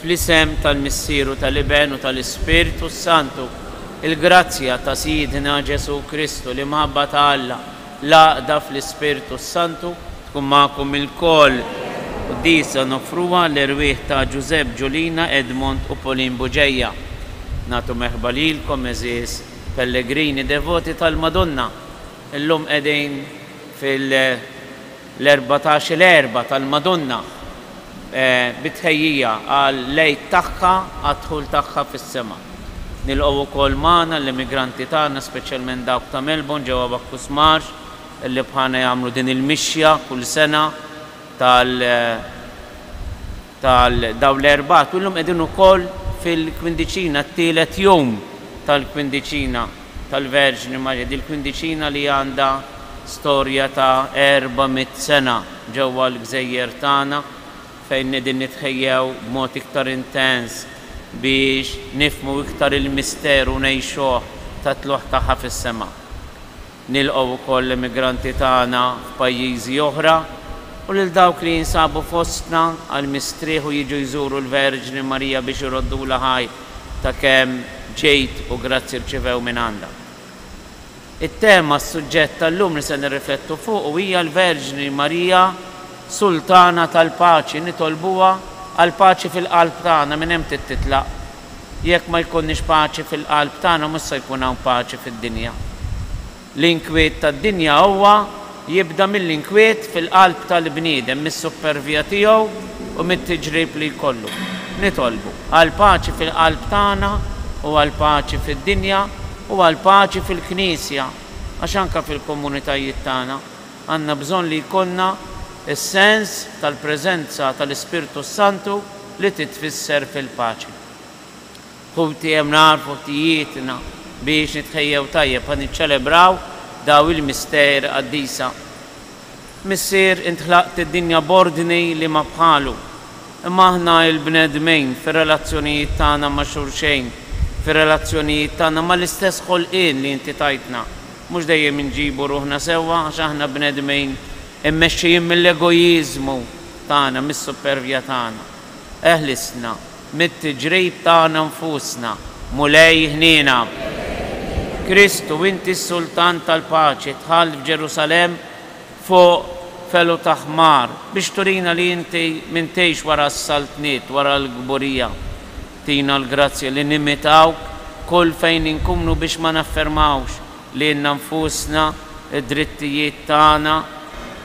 Fl-isem tal-Missier u tal-Iben u tal-Ispirtu s-Santu, il-grazzja ta' Sidna Ġesù Kristu, l-imħabba ta' Alla, l-għaqda fl-Ispirtu s-Santu, tkun magħkom ilkoll. Quddiesa noffruha għall-erwieħ ta' Ġużepp, Ġulina, Edmond u Pauline Bugeja. Nagħtu merħba lilkom, għeżież pellegrini devoti tal-Madonna. Illum qegħdin fil. L-erbatax il-Erbgħa tal-Madonna bi tħejjija għall-Għid tagħha għad-dħul tagħha fis-sema. Nilqgħu wkoll magħna l-immigranti tagħna speċjalment dawk ta' Melbourne ġewwa Bacchus Marsh li bħalna jagħmlu din il-mixja kull sena tal ta' dawn l-erbgħat u llum qegħdin ukoll fil-kwindiċina, t-tielet jum tal-kwindiċina tal-Verġni Marija, din il-kwindiċina li għandha storja ta' erba' mitt sena ġewwa l-gżejjer tagħna fejn qegħdin nitħejjew b'mod iktar intens biex nifhmu iktar il-misteru u ngħixuh tat-tlugħ tagħha fis-sema. Nilqgħu wkoll l-immigranti tagħna f'pajjiżi oħra u lil dawk li jinsabu fostna għall-mistrieħ u jiġu jżuru l-Verġni Marija biex iroddulha ħaj ta' kemm ġid u grazzji rċivew mingħandha. It-tema, s-suġġett tal-lum li se nirriflettu fuqu hija l-Verġni Marija Sultana tal-Paċi nitolbuha għall-paċi fil-qalb tagħna minn hemm trid titlaq Jekk ma jkollniex paċi fil-qalb tagħna mhux se jkun hawn paċi fid-dinja. L-inkwiet tad-dinja huwa jibda mill-inkwiet fil-qalb tal-bniedem, mis-suppervja tiegħu u mit-tiġrib li jkollu. Nitolbu għall-paċi fil-qalb tagħna u għall-paċi fid-dinja u għall-paċi fil-Knisja, għax anke fil-komunitajiet tagħna għandna bżonn li jkollna s-sens tal-preżenza tal-Ispirtu s-Santu, li titfisser fil-paċi. Ħuti hemm nagħrfu ħtijietna biex nitħejjew tajjeb ħa niċċelebraw daw il-misteri qaddisa. Missier int ħlaqt id-dinja b'ordni li ma bħalu. Imma aħna il-bnedmin fir-relazzjonijiet tagħna ma' xulxejn, fir-relazzjonijiet tagħna mal-istess ħolqien li inti tajtna, mhux dejjem inġibu ruħna sewwa għax aħna bnedmin immexxijin mill-egojiżmu, tagħna mis-supervja tagħna. Eħlisna mit-tiġrib tagħna nfusna, Mulej ħniena. Kristu, inti s-Sultan tal-paċi, dħalt f'Ġerusalemm fuq felu ta' ħmar biex turina li inti m'intix wara s-saltniet, wara l-kburija. Tina l-grazzja li nimitawk kull fejn inkunu biex ma naffermawx lilna nfusna, id-drittijiet tagħna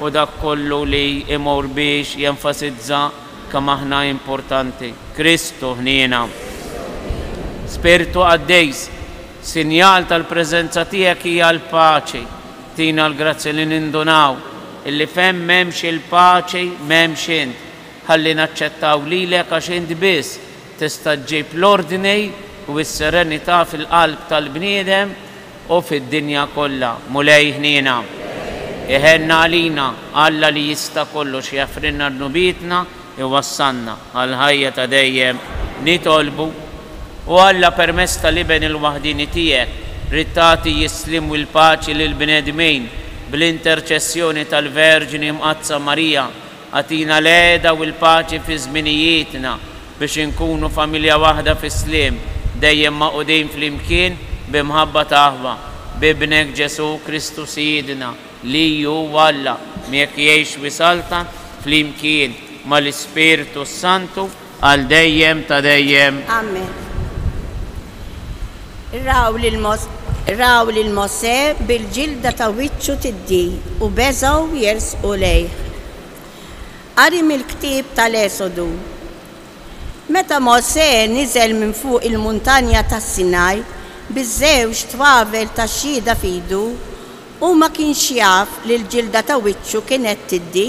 u dak kollu li jmur biex jenfasizza kemm aħna importanti. Kristu ħniena. Spirtu Qaddis, sinjal tal-preżenza tiegħek hija l-paċi. Tina l-grazzja li nindunaw illi fejn m'hemmx il-paċi m'hemmx int. Ħalli naċċettaw lilek għax int biss Tista' ġġib l-ordni u s-serenità fil-qalb tal-bniedem u fid-dinja kollha. Mulej ħniena, iħenn għalina, Alla li jista' kollox jaħfrilna dnubietna, iwassalna għall-ħajja ta' dejjem. Nitolbu. O Alla, permezz tal-Iben il-waħdieni tiegħek, ridt tagħti s-sliem u l-paċi lill-bnedmin, bl-interċessjoni tal-Verġni Mqaddsa Marija, Agħtina l-għeda u l-paċi fi żminijietna, biex inkunu familja waħda fis-sliem, dejjem magħqudin flimkien bi mħabba ta' aħwa. B'Ibnek Ġesù Kristu Sidna, li hu Alla, miegħek jgħix u jsaltan, flimkien mal-Ispirtu s-Santu, Għal dejjem ta' dejjem. Amen. Raw lil Mosè bil-ġilda ta' wiċċu tiddi u beżgħu jersqu lejh. Qari mill-ktieb tal-Esodu. Meta Mosè niżel minn fuq il-Muntanja tas-Sinaj biż-żewġ twavel tax-Xhieda f'idu, hu ma kienx jaf li l-ġilda ta' wiċċu kienet tiddi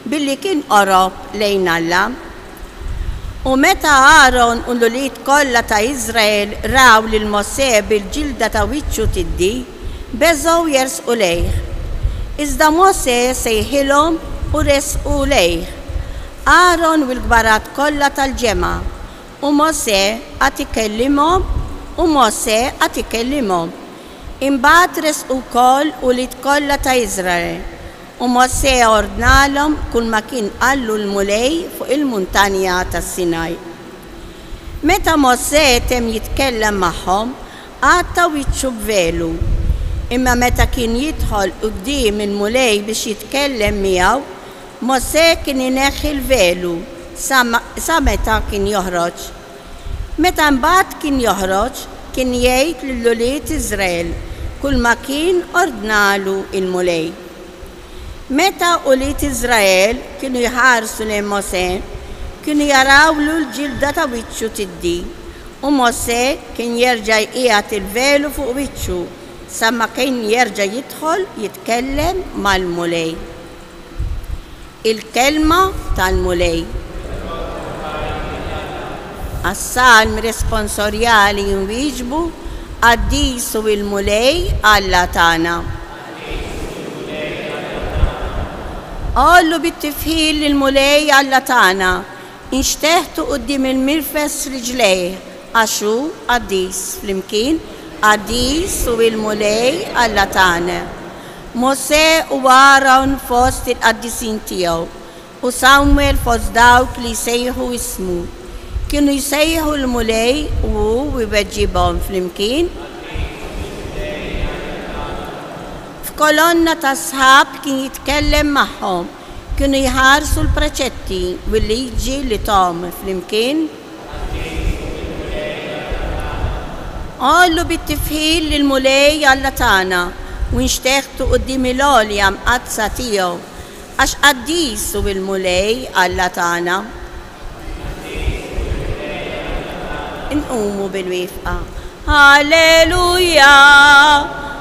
Billi kien qorob lejn Alla. U meta Aron u l-ulied kollha ta' Iżrael raw lil Mosè bil-ġilda ta' wiċċu tiddi, beżgħu jersqu lejh. Iżda Mosè sejħilhom u resqu lejh, Aron u l-kbarat kollha tal-ġemgħa, u Mosè qagħad ikellimhom u Mosè qagħad ikellimhom. Imbagħad resqu wkoll ulied kollha ta' Iżrael. U Mosè ordnalhom kulma kien qallu l-Mulej fuq il-muntanja ta' Sinaj. Meta Mosè temm jitkellem magħhom, għatta wiċċu b'velu. Imma meta kien jidħol quddiem il-Mulej biex jitkellem miegħu, Mosè kien ineħħi l-velu sa meta kien joħroġ. Meta mbagħad kien joħroġ, kien jgħid lil ulied Iżrael kulma kien ordnalu l-Mulej. Meta ulied Iżrael kienu jħarsu lejn Mosè, kienu jarawlu l-ġilda ta' wiċċu tiddi, u Mosè kien jerġa' jqiegħed il-velu fuq wiċċu sa ma kien jerġa' jidħol jitkellem mal-Mulej. Il-kelma tal-Mulej. Għas-salm responsorjali inwieġbu, Qaddis hu l-Mulej Alla tagħna. Għollu bit-tifħir lill-Mulej Alla tagħna, inxteħtu quddiem il-mirfes rijlejh, Għax hu qaddis flimkien, qaddis hu l-Mulej Alla tagħna. Mosè huwa Aron fost il-qaddisin tiegħu, u Samwel fost dawk li jsejħu ismu. Kienu jsejħu l-Mulej u hu jweġġibhom flimkien. F'kolonna tas-sħab kien jitkellem magħhom. Kienu jħarsu l-preċetti u l-liġi li thom flimkien. Għollu bit-tifħir lill-Mulej Alla tagħna u nxteħtu quddiem il-għolja mqaddsa tiegħu, għax qaddis hu l-Mulej Alla tagħna. Inqumu bil-wifqa. Alleluja!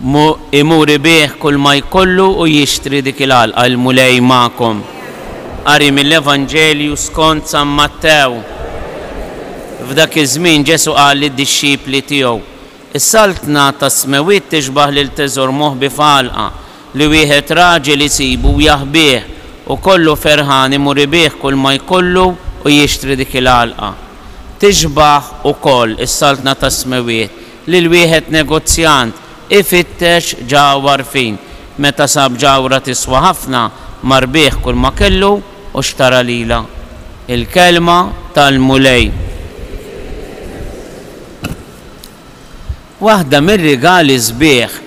Mu imur ibigħ kull ma jkollu u jixtri dik il-għalqa, il-Mulej magħkom. Qari mill-Evanġelju skont San Mattew. F'dak iż-żmien Ġesù qal lid-dixxipli tiegħu, Is-saltna tas-smewwiet tixbah lil teżor moħbi f'għalqa, li wieħed raġel isibu u jaħbih, u kollu ferħan imur ibigħ kull ma jkollu u jixtri dik il-għalqa. Tixbah ukoll is-saltna tas-smewwiet Lil wieħed negozjant ifittex ġaw għarfien. Meta sab ġawhra tiswa ħafna, mar bih kull ma kellu u xtara lilha. Il-kelma tal-Mulej. Waħda mir-rigali sbieħ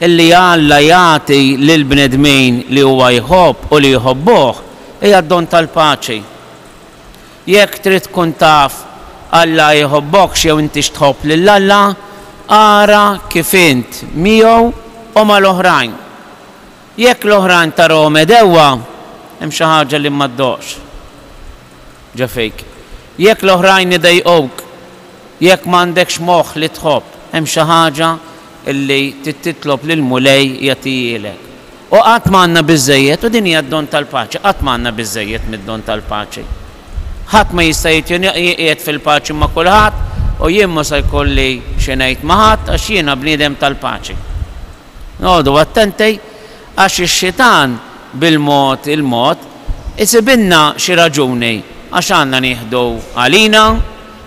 li Alla jagħti lill-bnedmin li huwa jħobb u li jħobbuh hija d-don tal-paċi. Jekk trid tkun taf Alla jħobbokx jew intix tħobb lil Alla, ara kif int miegħu u mal-oħrajn. Jekk l-oħrajn tarahom għedewwa, hemm xi ħaġa li ma ddoqx ġo fik. Jekk l-oħrajn idejquk, jekk m'għandekx moħħ li tħobb, hemm xi ħaġa li trid titlob lill-Mulej jagħtihielek. U qatt ma għandna biżżejjed, u din hija d-don tal-paċi, qatt ma għandna biżżejjed mid-don tal-paċi. Ħadd ma jista' jitqiegħed fil-paċi ma' kulħadd, u jien mhu se jkolli xi ngħid ma' ħadd għax jiena bniedem tal-paċi. Noqogħdu attenti għax ix-xitan bil-mod il-mod isibilna xi raġuni għax għandna nieħdu għalina,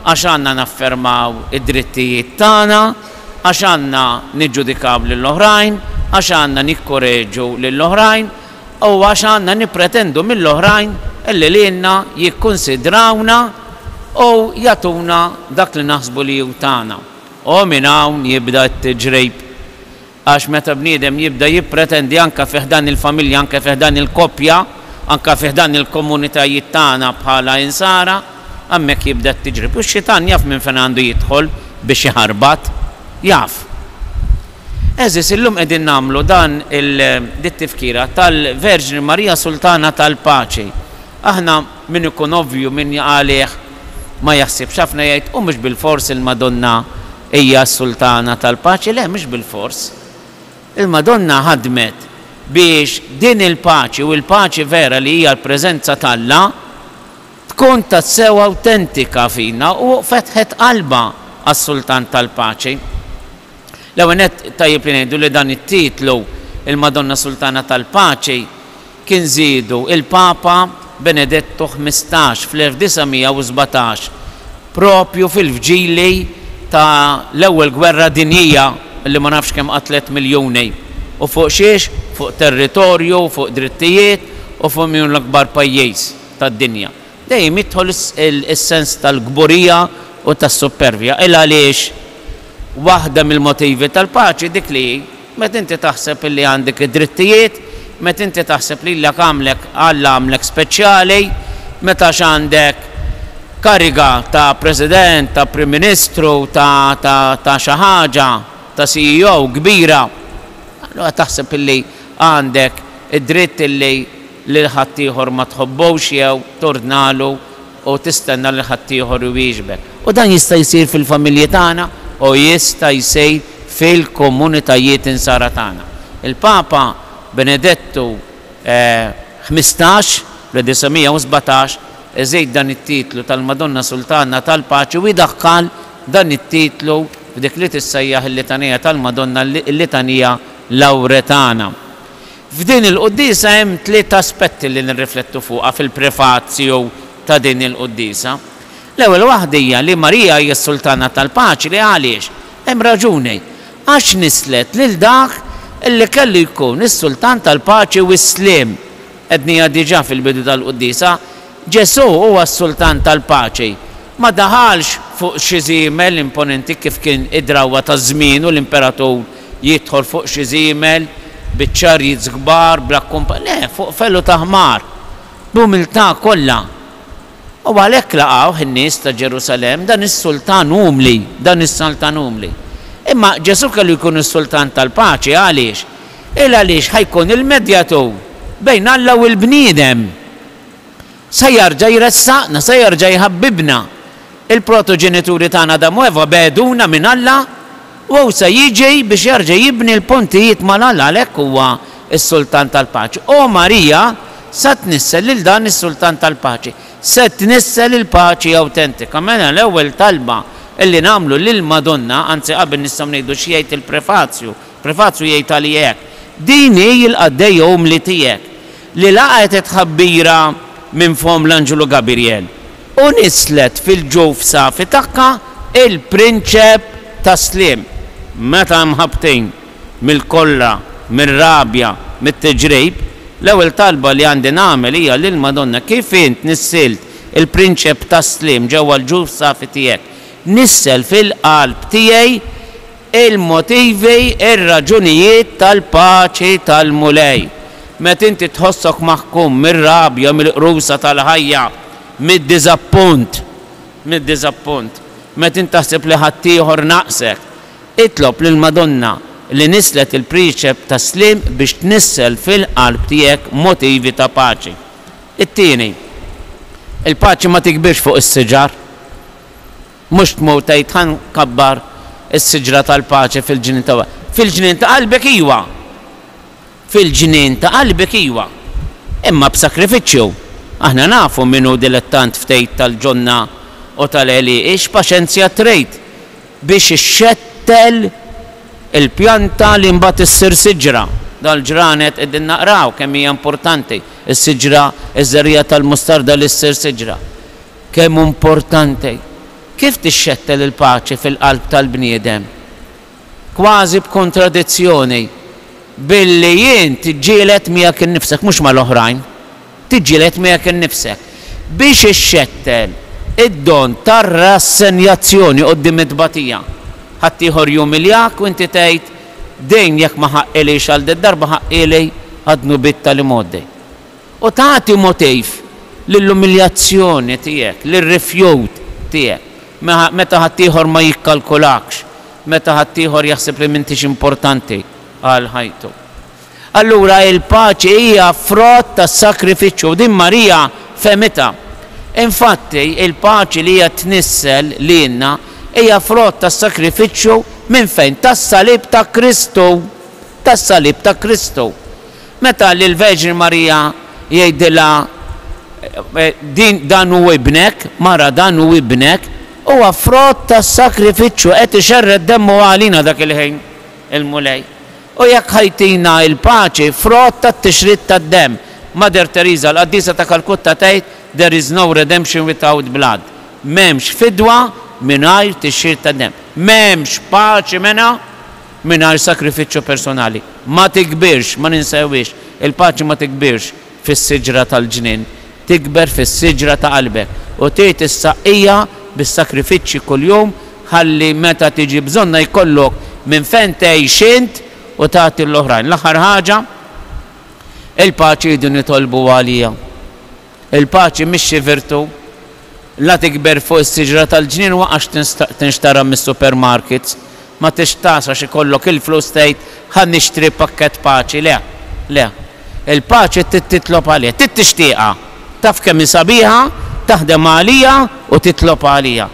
għax għandna naffermaw id-drittijiet tagħna, għax għandna niġġudikaw lil oħrajn, għax għandna nikkoreġu lil oħrajn u għax għandna nippretendu mill oħrajn li lilna jikkunsidrawna u jagħtuna dak li naħsbu li hu tagħna. U minn hawn jibda t-tiġrejb. Għax meta bniedem jibda jippretendi anke fi ħdan il-familja, anke fi ħdan il-koppja, anke fi ħdan il-komunitajiet tagħna bħala Insara, hemmhekk jibda t-tiġrib. U x-xitan jaf minn fejn għandu jidħol biex iħarbat. Jaf. Għeżież, illum qegħdin nagħmlu dan il, dit-tifkira tal-Verġni Marija Sultana tal-Paċi. Aħna min ikun ovvju, min jaqgħalih ma jaħsibx ħafna jgħid, u mhux bilfors il-Madonna Hija s-Sultana tal-Paċi? Le, mhux bilfors. Il-Madonna ħadmet biex din il-paċi u l-paċi vera li hija l-preżenza t'Alla tkun tassew awtentika fina u fetħet qalbha għas-Sultan tal-Paċi. L-ewwel nett tajjeb li ngħidu li dan it-titlu, il-Madonna Sultana tal-Paċi, kien żiedu l-Papa Benedettu Ħmistax fl-1917, proprju fil-vġili ta' l-Ewwel Gwerra Dinjija li ma nafx kemm qatlet miljuni. U fuq xiex? Fuq territorju, fuq drittijiet u fuq min hu l-akbar pajjiż tad-dinja. Dejjem jidħol is-sens tal-kburija u tas-suppervja. Il-għaliex? Waħda mill-motivi tal-paċi dik li hi. Meta inti taħseb illi għandek id-drittijiet, meta inti taħseb lilek għamlek Alla għamlek speċjali, meta x'għandek kariga ta' President, ta' Prim Ministru, ta' ta' ta' xi ħaġa, ta' CEO kbira, allura taħseb illi għandek id-dritt illi lil ħaddieħor ma tħobbux jew tordnalu u tistenna lil ħaddieħor iwieġbek. U dan jista' jsir fil-familji tagħna u jista' jsir fil-komunitajiet Insara tagħna. Il-Papa Benedettu Ħmistax, fl-1917, iżid dan it-titlu tal-Madonna Sultanna tal-Paċi u jdaħħal dan it-titlu f'dik li tissejjaħ il-Litanija tal-Madonna, il-Litanija Lauretana. F'din il-Quddiesa hemm tliet aspetti li nirriflettu fuqha fil-Prefazju ta' din il-Quddiesa. L-ewwel waħda hija li Marija hija s-Sultana tal-Paċi. Għaliex? Hemm raġuni. Għax nisslet lil dak li kellu jkun is-Sultan tal-Paċi u s-Sliem. Għedniha diġà fil-bidu tal-Quddiesa. Ġesù huwa s-Sultan tal-paċi. Ma daħalx fuq xi żiemel imponenti kif kien id-drawwa ta' żmienu l-imperatur jidħol fuq xi żiemel bi chariots kbar bla kkumpanji. Le, fuq felu ta' ħmar, b'umiltà kollha. U għalhekk laqgħuh in-nies ta' Ġerusalemm, dan is-Sultan umli, dan is-Sultan umli. Imma Ġesù kellu jkun is-Sultan tal-paċi, għaliex? Il għaliex ħa jkun il-medjatur bejn Alla u l-bniedem. Se jerġa' jressaqna, se jerġa' jħabbibna. Il-protoġenituri tagħna Adam u Eva begħduna minn Alla, u hu se jiġi biex jerġa' jibni l-pontijiet ma' Alla, għalhekk huwa s-Sultan tal-Paċi. U Marija se tnissel lil dan is-Sultan tal-Paċi. Se tnissel il-paċi awtentika. Mela l-ewwel talba li nagħmlu lill-Madonna, anzi qabel nistgħu ngħidu x'jgħid il-prefazju, il-prefazju jgħid għaliha hekk, Din hi l-qaddejja umli tiegħek. li laqgħet it-tħabbira minn fomm l-anġlu Gabirjel u nisslet fil-ġuf safi tagħha l-Prinċep tas-Sliem. Meta mħabbtin mill-kolla, mir-rabja, mit-tiġrib, l-ewwel talba li għandi nagħmel hija lil Madonna, kif int nissilt il-Prinċep tas-Sliem ġewwa l-ġuf safi tiegħek, nissel fil-qalb tiegħi Il-motivi, ir-raġunijiet tal-paċi tal-Mulej. Meta inti tħossok maħkum mir-rabja, mill-qrusa tal-ħajja, mid-diżappunt, mid-diżappunt, meta int taħseb li ħaddieħor naqsek, itlob lill-Madonna li nisslet il-Priċep tas-Sliem biex tnissel fil-qalb tiegħek motivi ta' paċi. It-tieni, il-paċi ma tikbirx fuq is-siġar. Mhux tmur tgħid ħa nkabbar is-siġra tal-paċi fil-ġnien ta' fil-ġnien ta' qalbek iwa! Fil-ġnien ta' qalbek iwa! Imma b'sakrifiċċju. Aħna nafu min hu dilettant ftejt tal-ġonna u tal-għelieqi x'paċenzja trid biex ixxettel il-pjanta li mbagħad issir siġra. Dal-ġranet qegħdin naqraw kemm hija importanti s-siġra, iż-żerriegħa tal-mustarda li ssir siġra. Kemm hu mportanti! Kif tixxettel il-paċi fil-qalb tal-bniedem? Kważi b'kontradizzjoni, billi int tiġġieled miegħek innifsek, mhux mal-oħrajn. Tiġġieled miegħek innifsek. Biex ixxettel id-don tar-rassenjazzjoni quddiem it-tbatija, ħaddieħor jumiljak u inti tgħid, Din jekk ma ħaqqilhiex għal did-darba ħaqqili għad-dnubiet tal-imgħoddi. U tagħti motiv lill-umiljazzjoni tiegħek, lir-rifjut tiegħek, meta ħaddieħor ma jikkalkulakx, meta ħaddieħor jaħseb li m'intix importanti għal ħajtu. Allura il-paċi hija frott tas-sagrifiċċju u din Marija fehmitha. Infatti, il-paċi li hija tnissel lilna hija frott tas-sagrifiċċju minn fejn? Tas-salib ta' Kristu! Tas-salib ta' Kristu! Meta lill-Verġni Marija jgħidilha, Din, dan hu ibnek, mara dan hu ibnek, huwa frott tas-sagrifiċċju, qed ixerred demmu għalina dak il-ħin il-Mulej. U jekk ħa jtina il-paċi, frott tat-tixrid tad-demm. Mother Teresa, l-Qaddisa ta' Kalkutta tgħid, There is no redemption without blood. M'hemmx fidwa mingħajr tixrid tad-demm. M'hemmx paċi mena. mingħajr sakrifiċċju personali. Ma tikbirx, ma ninsewhiex, il-paċi ma tikbirx fis-siġra tal-ġnien, tikber fis-siġra ta' qalbek u tgħid is-saqqija bis-sakrifiċċji kuljum ħalli meta tiġi bżonnha jkollok minn fejn tgħix int u tagħti lill-oħrajn. L-aħħar ħaġa, il-paċi rridu nitolbuha għalija. Il-paċi mhix xi virtu. La tikber fuq is-siġra tal-ġnien waqax tinxtara mis-supermarkets. Ma tixtaħx għax ikollok il-flus tgħid ħa nixtri pakkett paċi. Le. Le. Il-paċi trid titlob għaliha. Trid tixtieqha. Taf kemm hi sabiħa, taħdem għaliha u titlob għaliha.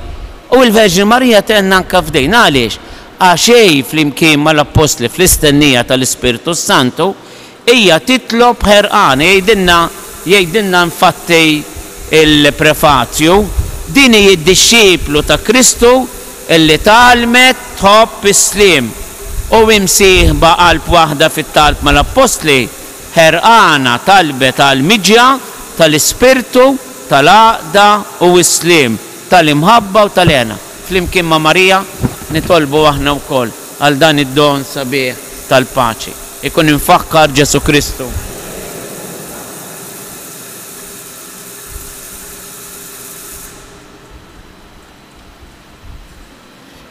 U l-Verġni Marija tgħinna anke f'din. Għaliex? Għax hi, flimkien mal-Appostli, fl-istennija tal-Ispirtu s-Santu, Hija titlob ħerqana, jgħidilna jgħidilna infatti l-Prefazju, din hi d-dixxiplu ta' Kristu li tgħallmet tħobb is-sliem u hi msieħba qalb waħda fit-talb mal-Appostli, ħerqana talbet għall-miġja tal-ispirtu tal-għaqda u s-sliem, tal-imħabba u tal-hena. Flimkien ma' Marija nitolbu aħna wkoll. Għal dan id-don sabiħ tal-paċi. Ikun imfakkar Ġesù Kristu.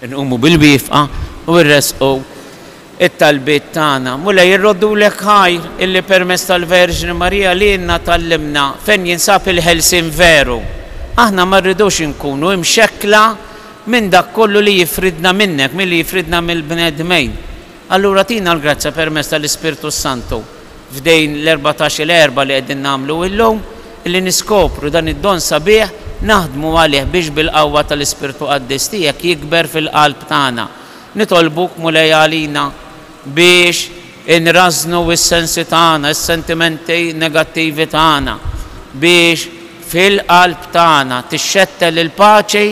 Inqumu bil-wifqa u nressqu it-talbiet tagħna. Mulej irroddulek ħajr illi permezz tal-Verġni Marija lilna tgħallimna fejn jinsab il-ħelsien veru. Aħna ma rridux inkunu imxekkla minn dak kollu li jifridna minnek, milli jifridna mill-bnedmejn. Allura tina l-grazzja permezz tal-Ispirtu s-Santu f'dejn l-erbatax-il għerba li qegħdin nagħmlu illum, illi niskopru dan id-don sabiħ, naħdmu għalih biex bil-qawwa tal-Ispirtu Qaddis tiegħek jikber fil-qalb tagħna. Nitolbuk, Mulej, għalina biex inrażżnu s-sensi tagħna, is-sentimenti negattivi tagħna, biex, Fil-qalb tagħna tixxettel il-paċi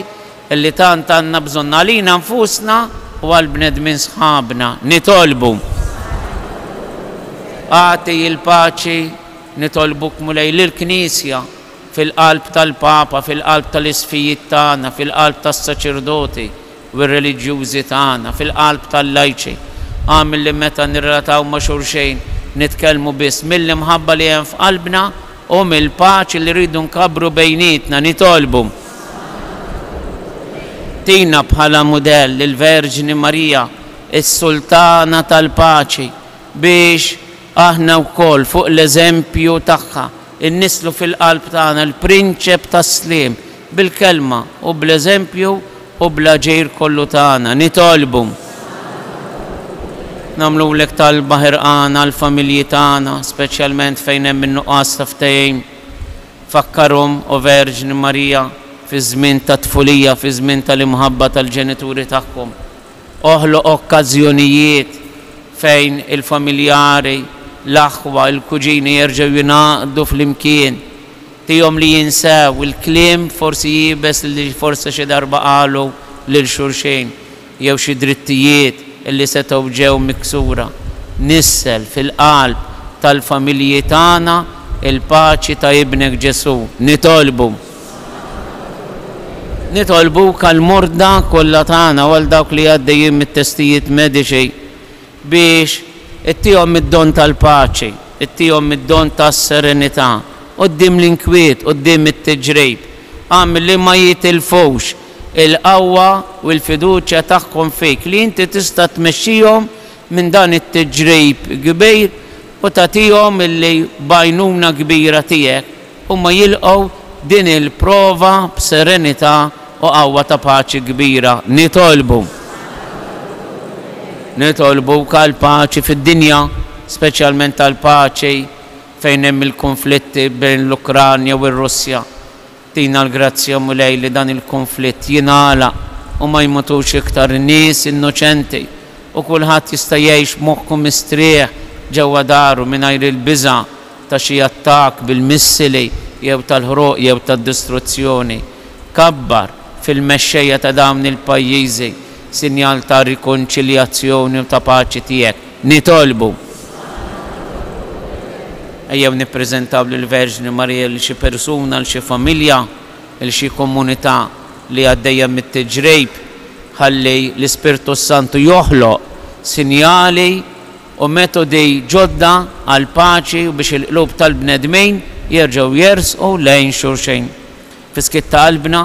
li tant għandna bżonn għalina nfusna u għall-bnedmin sħabna. Nitolbu. Agħti l-paċi, nitolbuk Mulej, lill-Knisja, fil-qalb tal-Papa, fil-qalb tal-isqfijiet tagħna, fil-qalb tas-saċerdoti, u r-reliġjużi tagħna fil-qalb tal-lajċi għamel li meta nirrelataw ma' xulxejn nitkellmu biss mill-imħabba li hemm f'qalbna u mill-paċi li rridu nkabbru bejnietna. Nitolbu tina bħala mudell lill-Verġni Marija, is-Sultana tal-Paċi, biex aħna wkoll fuq l-eżempju tagħha, innisslu fil-qalb tagħna l-Prinċep tas-Sliem, Bil-Kelma u bl-eżempju u bl-aġir kollu tagħna, nitolbu. Nagħmlulek talba ħerqana għall-familji tagħna, speċjalment fejn hemm in-nuqqas ta' ftehim. Fakkarhom, O Verġni Marija, fiż-żmien tat-tfulija, fiż-żmien tal-imħabba tal-ġenituri tagħhom. Oħloq okkażjonijiet fejn il-familjari, l-aħwa, il-kuġini jerġgħu jingħaqdu flimkien. Tihom li jinsew il-kliem forsi iebes li forsi xi darba qalu lil xulxin jew xi drittijiet li setgħu ġew miksura. Nissel fil-qalb tal-familji tagħna il-paċi ta' Ibnek Ġesù. Nitolbu. Nitolbuk għall-morda kollha tagħna u għal dawk li għaddejjin mit-testijiet mediċi biex ittihom mid-don tal-paċi, ittihom mid-don tas-serenità, quddiem l-inkwiet, quddiem it-tiġrib, agħmel li ma jitilfux il-qawwa u l-fiduċja tagħhom fik, li inti tista' tmexxihom minn dan it-tiġrib kbir u tagħtihom illi b'għajnuna kbira tiegħek, Huma jilqgħu din il-prova b'serenità u qawwa ta' paċi kbira. Nitolbu. Nitolbu wk għall-paċi fid-dinja, speċjalment għall-paċi fejn hemm il-kunflitti bejn l-Ukranja u r-Russja. Tina l-grazzja, Mulej, li dan il-kunflitt jingħalaq u ma jmutux iktar nies innoċenti u kulħadd jista' jgħix b'moħħu mistrieħ ġewwa daru mingħajr il-biża' ta' xi attakk bil-missili jew tal-ħruq jew tad-distruzzjoni, kabbar fil-mexxejja ta' dawn il-pajjiżi sinjal ta' rikonċiljazzjoni u ta' paċi tiegħek. Nitolbu. Ejjew nippreżentaw lill-Verġni Marija lil xi persuna, 'l xi familja, 'l xi komunità li għaddejja mit-tiġrib, ħalli l-Ispirtu s-Santu joħloq sinjali, u metodi ġodda għall-paċi u biex il-qlub tal-bnedmin jerġgħu jersqu lejn xulxin. Fis-skiet ta' qalbna,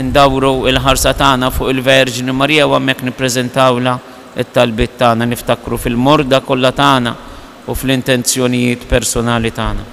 indawru l-ħarsa tagħna fuq il-Verġni Marija u hemmhekk nippreżentawlha t-talbiet tagħna, niftakru fil-morda kollha tagħna u fl-intenzjonijiet persunali tagħna.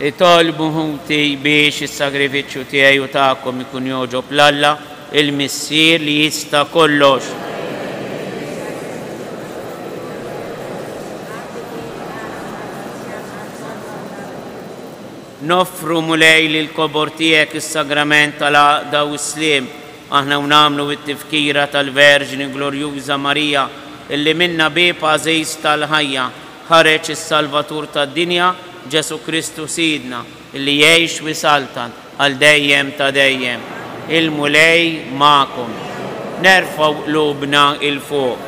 Itolbu ħuti biex is-sagrifiċċju tiegħi u tagħkom ikun jogħġob 'l Alla, il-Missier li jista' kollox. Noffru, Mulej, lill-kobor tiegħek is-sagrament tal-għaqda u s-sliem, Aħna u nagħmlu t-Tifkira tal-Verġni Glorjuża Marija, illi minnha bieb għażiż tal-ħajja, ħareġ is-Salvatur tad-dinja, Ġesù Kristu Sidna, illi jgħix u jsaltan għal dejjem ta' dejjem. Il-Mulej magħkom. Nerfgħu qlubna 'il fuq.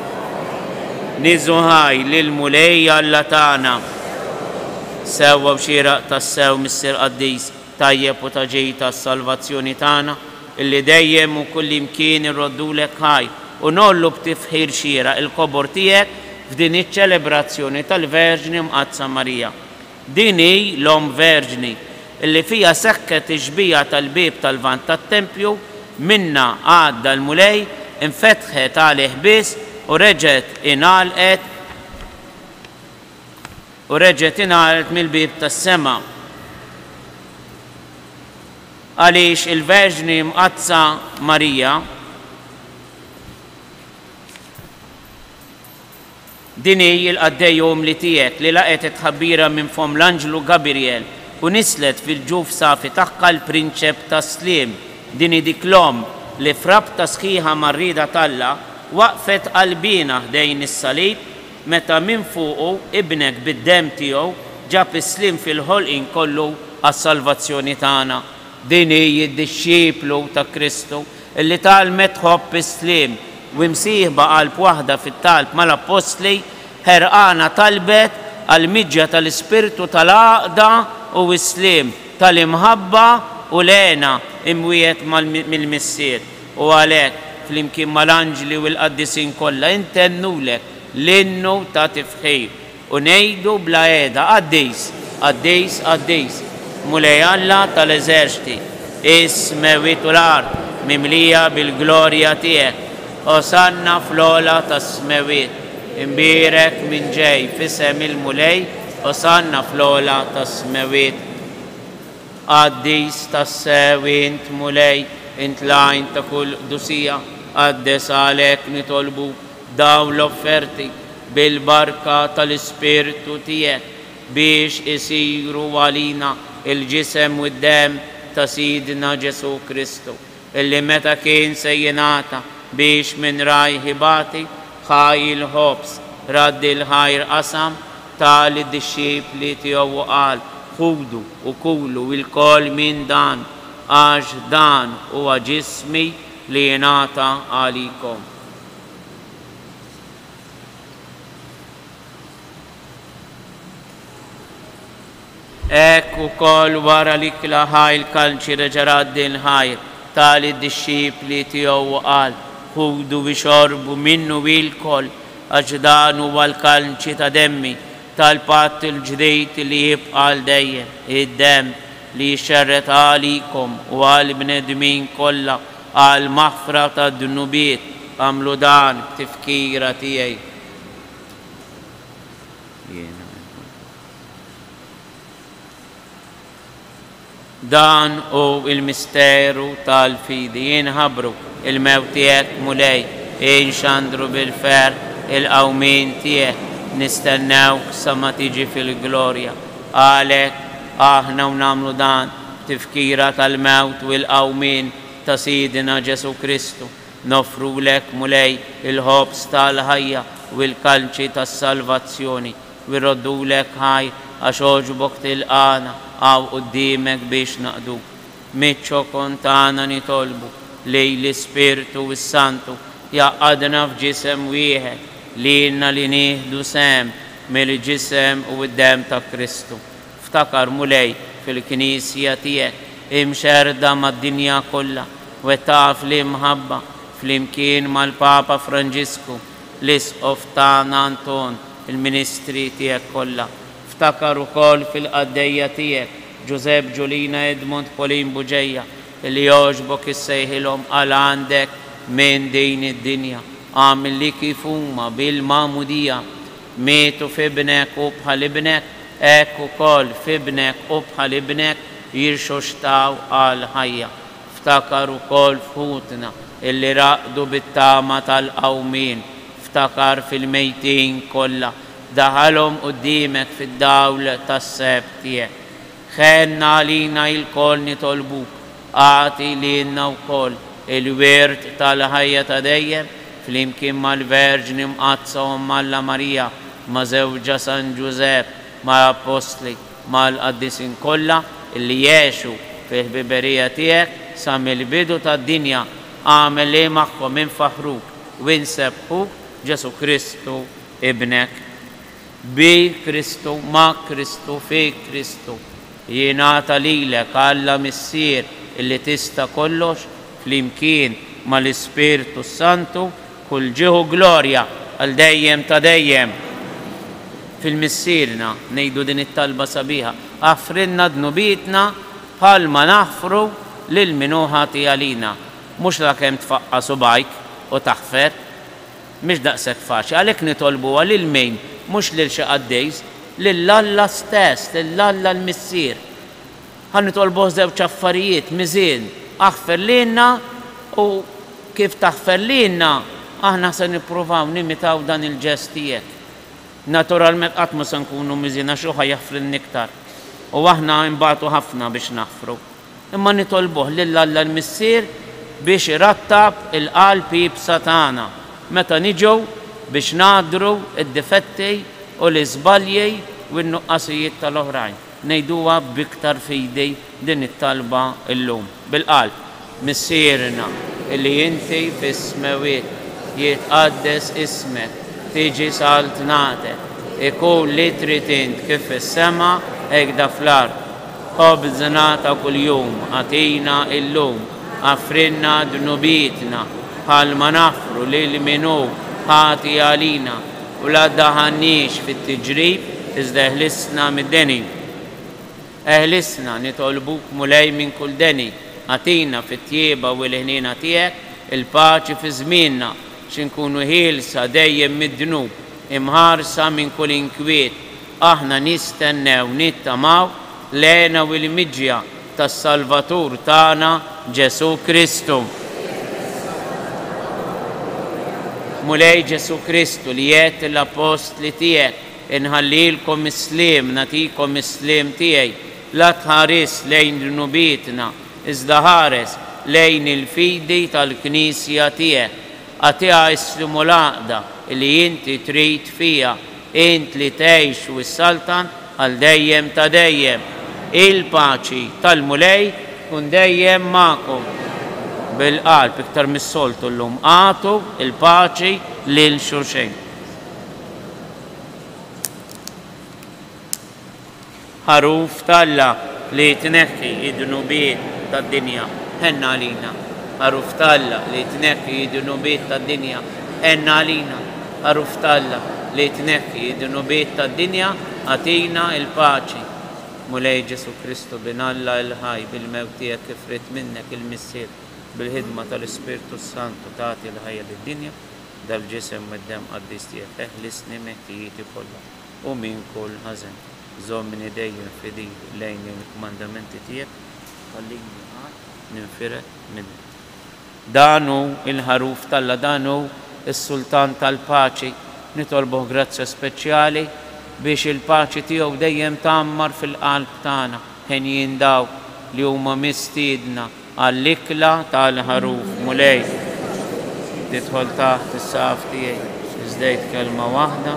Nieżu ħaj lill-Mulej Alla tagħna. Sewwa u xieraq tassew Missier Qaddis, tajjeb u ta' ġid għas-salvazzjoni tagħna, illi dejjem u kullimkien irroddulek ħaj, u ngħollu b'tifħir xieraq il-kobor tiegħek f'din iċ-ċelebrazzjoni tal-Verġni Mqaddsa Marija. Din hi l-Omm Verġni, illi fiha seħħet ix-xbieha tal-bieb tal-Lvant tat-tempju, minnha għadda l-Mulej, infetħet għalih biss u reġgħet ingħalqet, U reġgħet ingħalgħet mill-bieb tas-sema. Għaliex il-Verġni Mqaddsa Marija, din hi l-qaddej omm li tiegħek, li laqgħet it-tħabbira minn fomm l-anġlu Gabirjel u nisslet fil-ġuf safi tagħha l-Prinċep tas-Sliem, din hi dik l-omm li f'rabta sħiħa mar-rieda t'Alla, waqfet qalbiena ħdejn is-salib, Meta minfuqu Ibnek bid-demm tiegħu ġab is-sliem fil-ħolqien kollu għas-salvazzjoni tagħna. Din hi d-dixxiplu ta' Kristu li tgħallmet tħobb is-sliem u imsieħba qalb waħda fit-talb mal-appostli, ħerqana talbet għall-miġja tal-ispirtu tal-għaqda u s-sliem, tal-imħabba u l-hena imwiegħed mill-Missier. U għalhekk, flimkien mal-anġli u l-qaddisin kollha, intennulek l-innu ta' tifħir u ngħidu bla heda, Qaddis, qaddis, qaddis, Mulej Alla ta' l-eżerċti, is-smewwiet u l-art mimlija bil-glorja tiegħek. Osanna fl-ogħla tas-smewwiet. Imbierek min ġej f'isem il-Mulej, Osanna fl-ogħla tas-smewwiet. Qaddis tassew int, Mulej, int l-għajn ta' kull qdusija, qaddes għalhekk nitolbuk dawn l-offerti bil-barka tal-Ispirtu tiegħek, biex isiru għalina l-ġisem u d-demm ta' Sidna Ġesù Kristu, Illi meta kien se jingħata biex min rajh ibati, ħa il-ħobż, radd il-ħajr qasam, ta lid-dixxipli tiegħu u qal, Ħudu u kulu ilkoll minn dan, għax dan huwa ġismi li jingħata għalikom. Hekk ukoll wara li kla ħajr kalċi reġa' ra din ħajr, ta lid-dixxipli tiegħu u qal, Ħudu ixorbu minnu ilkoll, għax dan huwa l-kalċi ta' demmi, tal-patt il-ġdid li jibqa' għal dejjem, id-demm li jixxerred għalikom u għall-bnedmin kollha għall-maħfra tad-dnubiet, agħmlu dan b'tifkira tiegħi. Jiena Dan hu l-misteru tal-fidi, inħabbru l-mewt tiegħek, Mulej, inxandru bil-ferħ il-qawmien tiegħek, nistennewk sa ma tiġi fil-glorja. Għalhekk, aħna u nagħmlu dan b'tifkira tal-mewt u l-qawmien ta' Sidna Ġesù Kristu, noffrulek, Mulej, il-ħobż tal-ħajja u l-kalċi tas-salvazzjoni, U jroddulek, Ħaj, għax għoġbok tilqagħna hawn quddiemek biex naqduk. Miċ-ċokon tagħna nitolbu li l-Ispirtu s-Santu jgħaqqadna f'ġisem wieħed, lilna li nieħdu sehem mill-ġisem u d-demm ta' Kristu. Ftakar, Mulej, fil-Knisja tiegħek imxerrda mad-dinja kollha, wettaqha fl-imħabba, flimkien mal-Papa Franġisku, L-Isqof tagħna Anton, il-ministri tiegħek kollha. Ftakar ukoll fil-qaddejja tiegħek, Ġużepp, Ġulina, Edmond, Pauline, Buġeja, li jogħġbok issejħilhom għal għandek minn din id-dinja. Agħmilli kif huma bil-magħmudija mietu f'Ibnek u bħal Ibnek, hekk ukoll f'Ibnek u bħal Ibnek jirxuxtaw għall-ħajja. Ftakar ukoll f'ħutna illi raqdu bit-tama tal-qawmien. Ftakar fil-mejtin kollha. Daħalhom quddiemek fid-dawl tas-seheb tiegħek. Ħenn għalina ilkoll nitolbuk. Agħti lilna wkoll il-wirt tal-ħajja ta' dejjem flimkien mal-Verġni Mqaddsa Omm Alla Marija, ma' żewġha San Ġużepp, mal-Appostli, mal-Qaddisin kollha li jgħexu fil-ħbiberija tiegħek sa mill-bidu tad-dinja, agħmel li magħhom infaħħruk u insebbħuk b'Ġesù Kristu Ibnek. Bi Kristu, ma' Kristu, fi Kristu, jingħata lilek, Alla Missier li tista' kollox, flimkien mal-Ispirtu s-Santu, Kull ġieħ u glorja għal dejjem ta' dejjem. Fil-Missierna ngħidu din it-talba sabiħa, Aħfrilna dnubietna bħalma naħfru lil min hu ħati għalina. Mhux lakemm tfaqqa' subgħajk u taħfer. Mhix daqshekk faċli. Għalhekk nitolbuha lil min? Mhux lil xi qaddis. Lil Alla stess, lil Alla l-Missier. Ħa nitolbuh żewġ affarijiet, Miżien, aħfer lilna u kif taħfer lilna, aħna se nippruvaw nimitaw dan il-ġest tiegħek. Naturalment qatt mhu se nkunu miżien għax hu ħa jaħfrilna iktar u aħna nbatu ħafna biex naħfru. Imma nitolbuh lil Alla l-Missier biex irattab il-qalb iebsa tagħna meta niġu biex ngħaddru d-difetti u l-iżbalji u n-nuqqasijiet tal-oħrajn. Ngħiduha b'iktar fidi din it-talba llum, bil-qalb. Missierna li inti fis-smewwiet, jitqaddes ismek, tiġi saltnatek, ikun li trid int kif fis-sema hekk da fl-art. Ħobżna ta' kuljum agħtina llum, aghfrilna dnubietna bħalma naghfru lil min hu ħati għalina, U la ddaħħalniex fit-tiġrib, iżda eħlisna mid-deni. Eħlisna, nitolbuk, Mulej, minn kull deni. Agħtina, fit-tjieba u l-ħniena tiegħek, il-paċi fi żmienna, biex inkunu ħielsa dejjem mid-dnub, imħarsa minn kull inkwiet, Aħna nistennew, nittamaw, l-għena u l-imġja tas-Salvatur tagħna Ġesù Kristu. Mulej Ġesù Kristu li għedt lill-Appostli tiegħek, Inħallilkom is-sliem, nagħtikom is-sliem tiegħi, la tħaris lejn dnubietna, iżda ħares lejn il-fidi tal-Knisja tiegħek. Agħtiha s-sliem u l-għaqda li inti trid fiha, Int li tgħix u ssaltan għal dejjem ta' dejjem. Il-paċi tal-Mulej tkun dejjem magħkom. Bil-qalb iktar mis-soltu llum agħtu l-paċi lil xulxejn. Għaruf t'Alla li jitneħħi d-dnubiet tad-dinja, ħenn għalina. Għaruf t'Alla li jitneħħi d-dnubiet tad-dinja, ħenn għalina. Għaruf t'Alla li jitneħħi d-dnubiet tad-dinja, agħtina l-paċi. Mulej Ġesù Kristu, Bin Alla il-ħaj, bil-mewt tiegħek kif ridt minnek il-Missier, bil-ħidma tal-Ispirtu s-Santu tagħti l-ħajja lid-dinja, dal-ġisem u d-demm qaddis tiegħek, eħlisni miħtijieti kollha. u minn kull ħażen. Żommni dejjem fidil lejn il-kmandamenti tiegħek, ħallini qatt ninfired minnek. Dan hu l-Ħaruf t'Alla, dan hu s-Sultan tal-Paċi. Nitolbuh grazzja speċjali biex il-paċi tiegħu dejjem tgħammar fil-qalb tagħna, henjin dawk li huma mistiedna Għall-ikla tal-Ħaruf, Mulej, tidħol taħt is-saqaf tiegħi. Żdejt kelma waħda.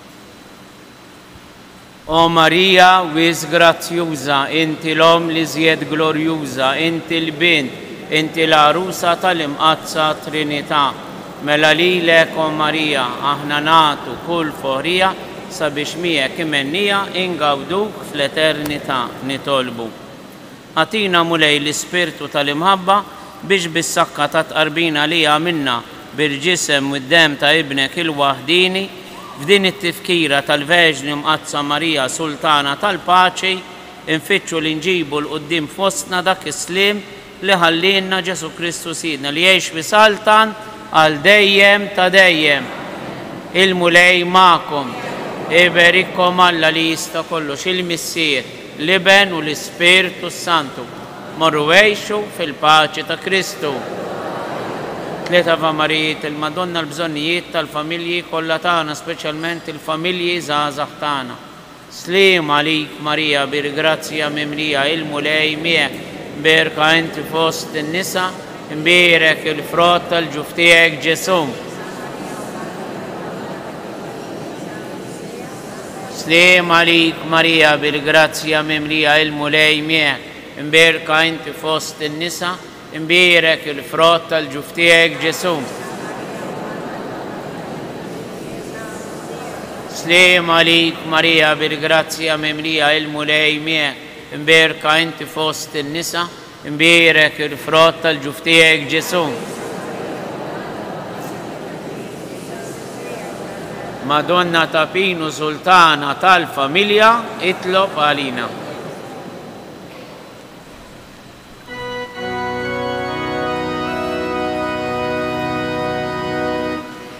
O Marija wisq grazzjuża, inti l-Omm l-iżjed glorjuża, inti l-Bint, inti l-Għarusa tal-Imqaddsa Trinità. Mela lilek, O Marija, aħna nagħtu kull foħrija sabiex miegħek imennija ingawduk fl-eternità. Nitolbu. Agħtina, Mulej, l-ispirtu tal-imħabba biex bis-sakka tat-tqarbina li għamilna bil-ġisem u d-demm ta' Ibnek il-waħdieni, f'din it-tifkira tal-Verġni Mqaddsa Marija Sultana tal-Paċi, infittxu li nġibu 'l quddiem fostna dak is-sliem li ħallielna Ġesù Kristu Sidna li jgħix u jsaltan għal dejjem ta' dejjem. Il-Mulej magħkom. Iberikkom Alla li jista' kollox, il-Missier. L-Iben u l-Ispirtu s-Santu. Morru għixu fil-paċi ta' Kristu. Tliet Ava Marijiet il-Madonna l-bżonnijiet tal-familji kollha tagħna speċjalment il-familji żgħażagħ tagħna. Sliem għalik Marija bir grazzja mimlija il-Mulej miegħek, mberka inti fost in-nisa, imbierek il-frott tal-ġuf tiegħek Ġesù. Sliem għalik Marija bil-grazzja mimlija il-Mulej miegħek, imberka inti fost in-nisa, imbierek il-frott tal-ġuf tiegħek Ġesù. Sliem għalik Marija bil-grazzja mimlija il-Mulej miegħek, imberka inti fost in-nisa, Imbierek il-frott tal-ġuf tiegħek, Ġesù. Madonna ta' Pinu Sultana tal-Familja, itlob għalina.